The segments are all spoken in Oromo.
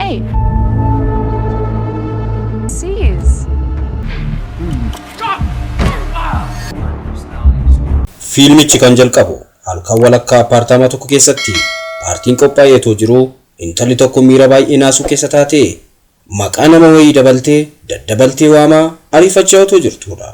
Hey! Seize! Fiilmichi kan jalqabu halkan walakkaa appaartaamaa tokko keessatti paartiin qophaa'ee otoo jiruu intalli tokko miira baay'ee naasuu keessa taatee maqaa nama wayii dabaltee daddabaltee waamaa ariifachaa otoo jirtuudha.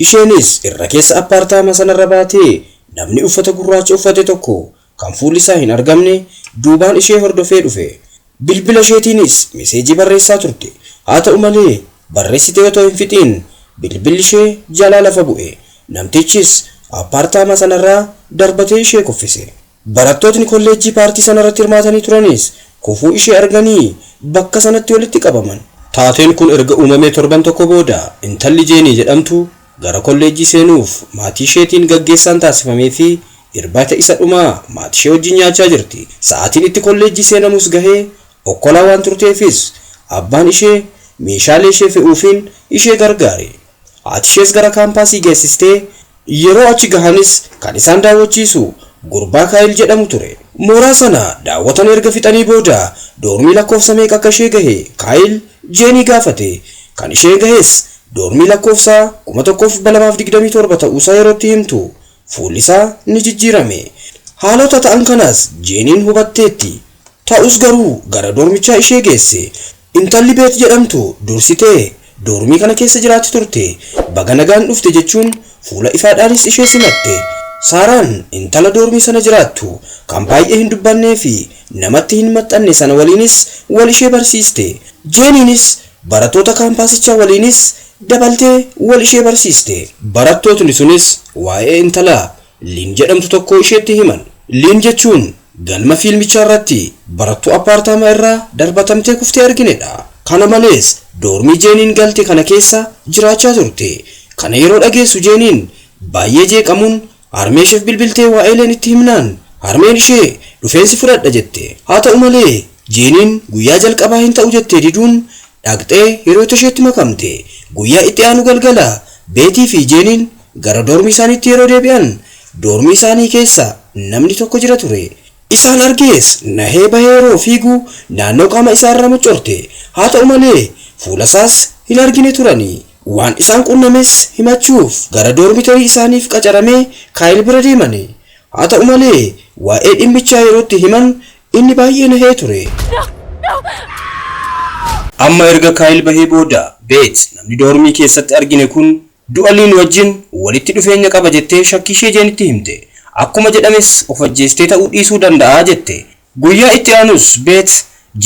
Isheenis irra keessa appaartaamaa sanarra baatee namni uffata gurraacha uffate tokko Kan fuulli isaa hin argamne duubaan ishee hordofee dhufe. Bilbila isheetiinis meseejii barreessaa turte. Haa ta'u malee, barreessitee otoo hin fixiin bilbilli ishee jalaa lafa bu'e. Namtichis appaartaamaa sanarraa darbatee ishee kuffise. Barattootni kolleejjii paartii sanarratti hirmaatanii turanis kufuu ishee arganii bakka sanatti walitti qabaman. Taateen kun erga uumamee torban tokko booda intalli Jeenii jedhamtu Gara kolleejjii seenuuf maatiisheetiin gaggeessaan taasifameefii irbaata isa dhumaa maatishee wajjin nyaachaa jirti. Sa'aatiin itti kolleejjii seenamus gahee okkolaa waan turteefis abbaan ishee meeshaaleeshee fe'uufiin ishee gargaare. Haatishees gara kaampaasii geessistee yeroo achi gahanis kan isaan daawwachiisu gurbaa Kaayil jedhamu ture. Mooraa sana daawwatan erga fixanii booda doormii lakkoofsa meeqa akka ishee gahe Kaayil Jeenii gaafate. Kan ishee gahes Doormii lakkoofsa 1227 ta'uusaa yeroo itti himtu fuullisaa ni jijjiirame. Haalota ta'an kanas Jeeniin hubatteetti. Ta'us garuu gara doormichaa ishee geesse. Intalli Beet jedhamtu dursitee doormii kana keessa jiraatti turte. Baga nagaan dhufte jechuun fuula ifaadhaanis ishee simatte. Saaraan intala doormii sana jiraattu kan baay'ee hin dubbanneefi namatti hin maxxanne sana waliinis wal ishee barsiiste. Jeeniinis Barattoota kaampaasichaa waliinis dabaltee wal ishee barsiiste. Barattootni sunis waa'ee intala Liin jedhamtu tokkoo isheetti himan. Liin jechuun galma fiilmichaarratti barattuu appaartaamaa irraa darbatamtee kuftee arginedha. Kana malees, doormii Jeeniin galte kana keessa jiraachaa turte. Kana yeroo dhageessu Jeeniin baay'ee jeeqamuun Harmeesheef bilbiltee waa'eeleen itti himnaan, harmeen ishee, dhufeen si fudhadha jette. Haa ta'u malee, Jeeniin guyyaa jalqabaa hin ta'u jettee diduun, dhaqxee hiriyoota isheetti makamte. Guyyaa itti aanu galgala, Beetii fi Jeeniin gara doormii isaaniitti yeroo deebi'an, doormii isaanii keessa namni tokko jira ture. Isaan argees nahee bahee yeroo fiigu naannoo qaama isaa irraa muccorte. Haa ta'u malee fuula isaas hin argine turani. Waan isaan qunnames himachuuf gara doormitarii isaaniif qacaramee Kaayil bira deemani. Haa ta'u malee waa'ee dhimmichaa yeroo itti himan inni baay'ee nahee ture. Amma erga Kaayil bahee booda Beet namni doormii keessatti argine kun Du'aliin wajjin walitti dhufeenya qaba jettee shakkiishee Jeenitti himte. Akkuma jedhames of ajjeestee ta'uu dhiisuu danda'a jette. Guyyaa itti aanus Beet,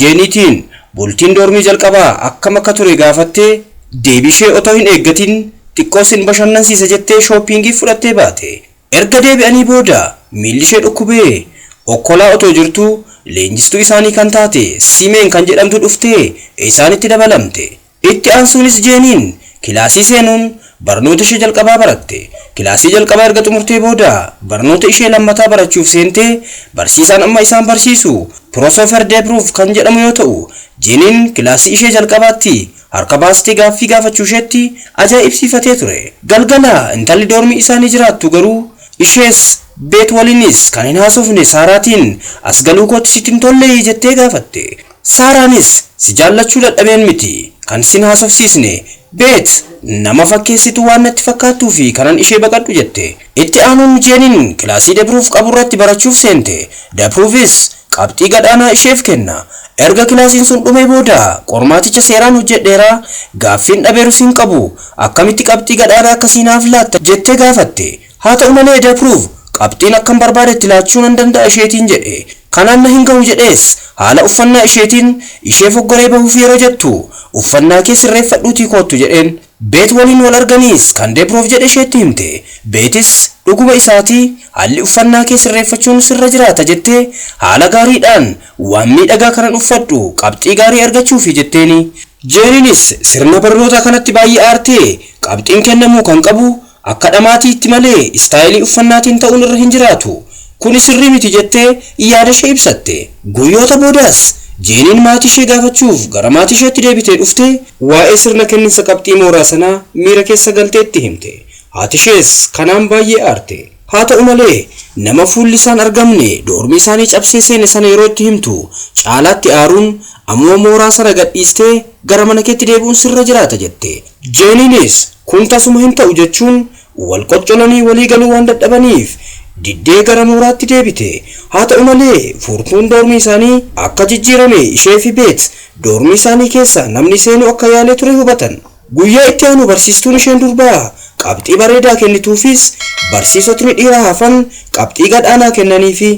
Jeeniitiin bultiin doormii jalqabaa akkam akka ture gaafattee, deebiishee otoo hin eeggatiin xiqqoo sin bashannansiisa jettee shooppiingiif fudhattee baate. Erga deebi'anii booda miillishee dhukkubee okkolaa otoo jirtuu leenjistuu isaanii kan taate Siimeen kan jedhamtu dhuftee isaanitti dabalamte. Itti aansuunis Jeeniin kilaasii seenuun barnoota ishee jalqabaa baratte. Kilaasii jalqabaa erga xumurtee booda barnoota ishee lammataa barachuuf seente. Barsiisaan amma isaan barsiisu Piroosofer Deebruuf kan jedhamu yoo ta'u, Jeeniin kilaasii ishee jalqabaatti harka baastee gaaffii gaafachuusheetti ajaa'ibsiifatee ture. Galgala intalli doormii isaanii jiraattu garuu ishees Beet waliinis kan hin haasofne Saaraatiin, As galuukootti sitti hin tollee? jettee gaafatte. Saaraanis si jaallachuu dadhabeen miti kan sin haasofsiisne, Beet nama fakkeessitu waan natti fakkaattuufi kanan ishee baqadhu jette. Itti aanuun Mijeeniin kilaasii Debruuf qaburratti barachuuf seente, Debruufis qabxii gad aanaa isheef kenna. Erga kilaasiin sun dhumee booda qormaaticha seeraan hojjedheera, gaaffiin dhabeerus hin qabu, akkamitti qabxii gad aanaa akkasii naaf laatta? jettee gaafatte. Haa ta'u malee Dapruv qabxiin akkan barbaadetti laachuu nan danda'a isheetiin jedhe. Kanaan na hin gahu jedhees haala uffannaa isheetiin ishee foggoree bahuuf yeroo jettu uffannaa kee sirreeffadhuutii koottu jedheen. Beet waliin wal arganiis kan Dapruv jedhe isheetti himte. Beetis dhuguma isaati haalli uffannaa kee sirreeffachuun sirra jiraata jettee haala gaariidhaan waan miidhagaa kanan uffadhu qabxii gaarii argachuufi jetteeni. Jeeriinis sirna barnootaa kanatti baay'ee aartee qabxiin kennamuu kan qabu Akka dhamaatiitti malee istaayilii uffannaatiin ta'uun irra hin jiraatu. Kuni sirrii miti jettee yaadashee ibsatte. Guyyoota boodas Jeeniin maatiishee gaafachuuf gara maatiisheetti deebitee dhufte. Waa'ee sirna kenninsa qabxii mooraa sanaa miira keessa galtee itti himte. Haatishees kanaan baay'ee aarte. Haata'u malee, nama fuulli isaan argamne doormii isaanii cabsee seene sana yeroo itti himtu caalaatti aaruun, Amma mooraa sana gadhiistee gara mana keetti deebi'uun sirra jiraata jette. Jeeniinis kun tasuma hin ta'u jechuun wal qoccolanii walii galuu waan dadhabaniif diddee gara mooraatti deebite. Haa ta'u malee furtuun doormii isaanii akka jijjiirame ishee fi Beet doormii isaanii keessaa namni seenuu akka yaalee ture hubatan. Guyyaa itti aanu barsiistuun isheen durbaa qabxii bareedaa kennituufis barsiisotni dhiiraa hafan qabxii gad aanaa kennaniifi.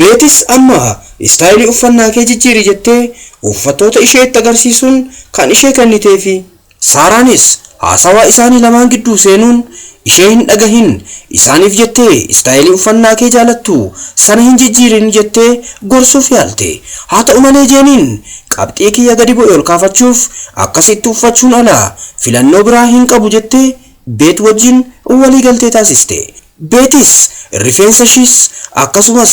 Beetis amma istaayilii uffannaa kee jijjiiri jettee uuffattoota isheetti agarsiisuun kan ishee kenniteefi. Saaraanis haasawaa isaanii lamaan gidduu seenuun ishee hin dhagahin, isaaniif jettee istaayilii uffannaakee jaalattu sana hin jijjiirin jettee gorsuuf yaalte. Haa ta'u malee Jeeniin qabxii kiyya gadi bu'e ol kaafachuuf akkasitti uffachuun ala filannoo biraa hin qabu jettee Beet wajjin waliigaltee taasiste. Beetis rifeensashiis akkasumas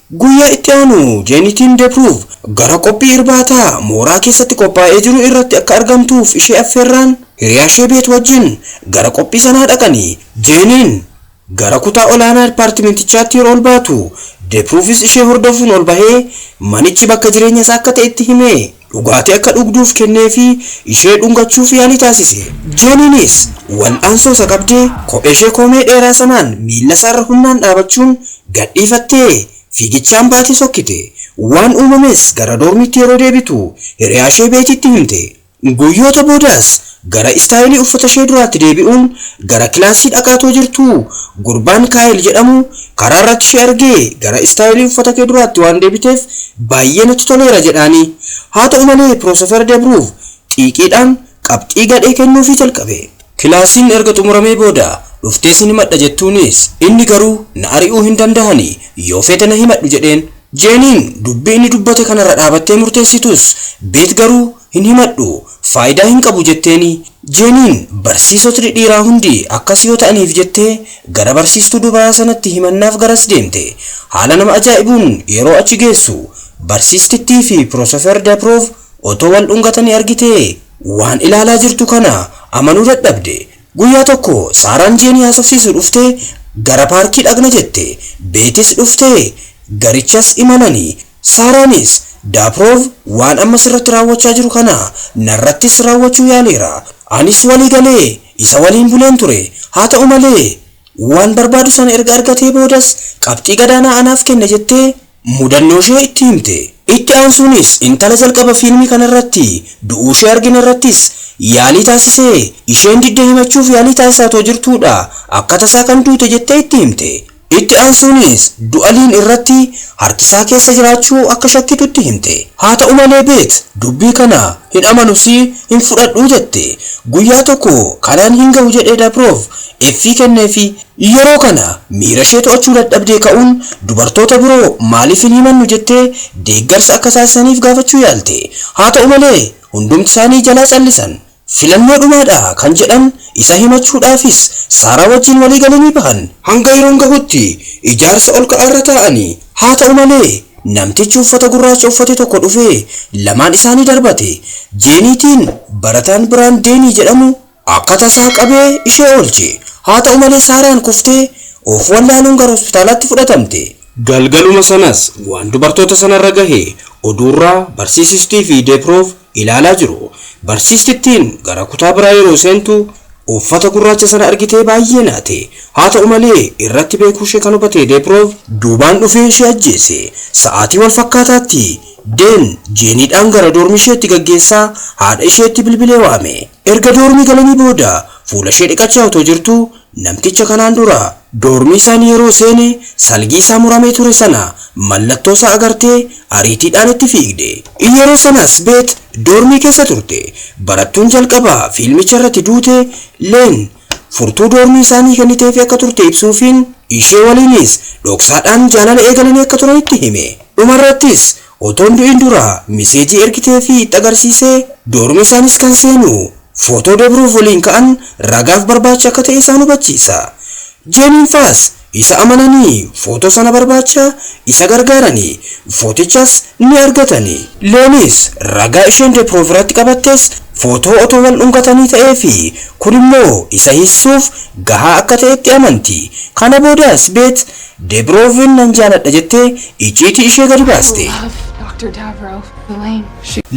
Guyyaa itti aanu Jeenitiin Depruuv gara qophii irbaataa mooraa keessatti qophaa'ee jiru irratti akka argamtuuf ishee affeerraan hiriyaashee Beet wajjin gara qophii sanaa dhaqanii Jeeniin gara kutaa olaanaa dippaartimentichaatti yeroo ol baatu Depruuvis ishee hordofuun ol bahee manichi bakka jireenya isaa akka ta'e itti himee Dhugaatii akka dhugduuf kenneefii ishee dhungachuuf yaalii taasise. Jeeniinis wal'aansoo isa qabdee kopheeshee koomee dheeraa sanaan miillasaarra humnaan dhaabachuun gadhiifattee fiigichaan baatee sokkite. Waan uumames gara doormiitti yeroo deebitu hiriyaashee Beetiitti himte. Guyyoota boodas Gara istaayilii uffatashee duraatti deebi'uun gara kilaasii dhaqaa too jirtu, gurbaan Kaayil jedhamu karaarratti ishee argee gara istaayilii uffatakee duraatti waan deebiteef baayyee natti toleera jedhaani. Haata'u malee Piroosofer Debruuv xiiqiidhaan qabxii gadhee kennuufii jalqabe. Kilaasiin erga xumuramee booda dhuftee sin himadha jettuunis inni garuu na ari'uu hin dandahani yoo feete na himadhu jedheen. Jeeniin dubbii inni dubbate kanarra dhaabattee murteessitus Beet garuu hin himadhu faayidaa hin qabu jetteeni Jeeniin barsiisotni dhiiraa hundi akkas yoo ta'aniif jettee gara barsiistuu dubaraa sanatti himannaaf garas deemte haala nama ajaa'ibuun yeroo achi geessu barsiistittii fi Pirosofer Dapiroov otoo wal dhungatanii argitee waan ilaalaa jirtu kana amanuu dadhabde Guyyaa tokko Saaraan Jeenii haasofsiisu dhuftee gara paarkii dhaqna jette Beetis dhuftee garichas imalanii Saaraanis, Daapiroov waan amma sirratti raawwachaa jiru kana narrattis raawwachuu yaaleera. Anis walii galee isa waliin buleen ture. Haa ta'u malee, waan barbaadu sana erga argatee boodas qabxii gadaanaa anaaf kenne jettee mudannooshee itti himte. Itti aansuunis intala jalqaba fiilmii kanarratti du'uushee arginerrattis yaalii taasisee isheen didde himachuuf yaalii taasisaa otoo jirtuudha akka tasaa kan duute jettee itti himte. Itti aansuunis Du'aliin irratti harkisaa keessa jiraachuu akka shakkitutti himte. Haata'u malee Beet dubbii kana hin amanusi hin fudhadhu jette. Guyyaa tokko kanaan hin gahu jedhee Dabrov effii kenneefi. Yeroo kana miirashee to'achuu dadhabdee ka'uun dubartoota biroo maaliif hin himannu jettee deeggarsa akka taasisaniif gaafachuu yaalte. Haata'u malee hundumtisaanii jalaa callisan. Filannoo dhumaa dha kan jedhan isa himachuudhaafis Saaraa wajjin walii galanii bahan. Hanga yeroon gahutti ijaarsa ol ka'aa irra taa'ani. Haata'u malee, namtichi uffata gurraacha uffate tokko dhufee lamaan isaanii darbate. Jeeniitiin barataan biraan Deenii jedhamu akka tasaa qabee ishee oolche. Haata'u malee Saaraan kuftee of wallaaluun gara hospitaalaatti fudhatamte. Galgaluma sanas waan dubartoota sanarra gahe oduurraa barsiisistii fi Deeproof ilaalaa jiru. Barsiistittiin gara kutaa biraa yeroo seentu uffata gurraacha sana argitee baay'ee naate. Haata'u malee, irratti beekuushee kan hubate Deepiroov duubaan dhufee ishee ajjeese. Sa'aatii wal fakkaataatti, Deen Jeeniidhaan gara doormiisheetti gaggeessaa haadha isheetti bilbilee waame. Erga doormii galanii booda fuulashee dhiqachaa otoo jirtuu namticha kanaan dura doormii isaanii yeroo seene salgii isaa muramee ture sana mallattoo isaa agartee ariitiidhaan itti fiigde. Yeroo sanas Beet doormii keessa turte. Barattuun jalqaba fiilmicha irratti duute Leen furtuu doormii isaanii kenniteefii akka turte ibsuufiin ishee waliinis dhoksaadhaan jaalala eegalanii akka turan itti hime. Dhumarrattis Otoo hin du'in dura miseejii ergiteefi itti agarsiise, doormii isaanis kan seenu footoo Dobroov waliin ka'an ragaaf barbaacha akka ta'e isaan hubachiisa. Jeemiin faas isa amananii footoo sana barbaacha isa gargaarani, footichas ni argatani. Leenis ragaa isheen Deproov irratti qabattes footoo otoo wal dhungatanii ta'eefi kun immoo isa hiisisuuf gahaa akka ta'etti amanti. Kana boodas Beet Debrooven nan jaaladha jettee icciitii ishee gadi baaste.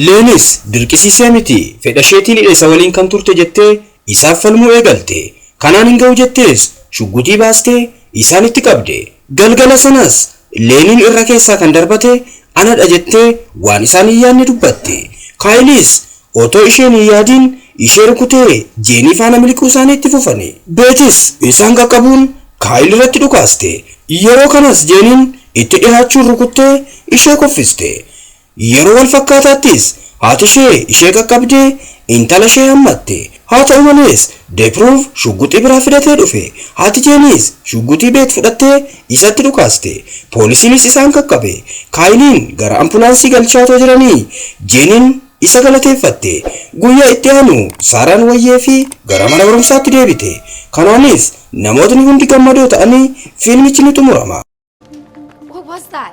Leenis dirqisiisee miti fedhasheetiin hidhe isa waliin kan turte jettee isaaf falmuu eegalte. Kanaan hin ga'u jettees shugguxii baastee isaan itti qabde. Galgala sanas Leeniin irra keessaa kan darbate anadha jettee waan isaan hin yaadne dubbatte. Kaayilis Otoo isheen hin yaadiin ishee rukutee Jeenii faana miliquu isaanii itti fufani. Beetis isaan qaqqabuun Kaayil irratti dhukaaste. Yeroo kanas Jeeniin itti dhihaachuun rukuttee ishee kuffiste. Yeroo wal fakkaataattis haati ishee ishee qaqqabdee intala ishee hammatte. Haa ta'u malees Deepruuv shugguxii biraa fidatee dhufe. Haati Jeeniis shugguxii Beet fudhattee isatti dhukaaste. Poolisiinis isaan qaqqabe. Kaayiliin gara ampulaansii galchaa otoo jiranii Jeeniin Isa galateeffatte. Guyyaa itti aanu Saaraan wayyee fi gara mana barumsaatti deebite. Kanaanis namootni hundi gammadoo ta'anii fiilmichi ni xumurama. What was that?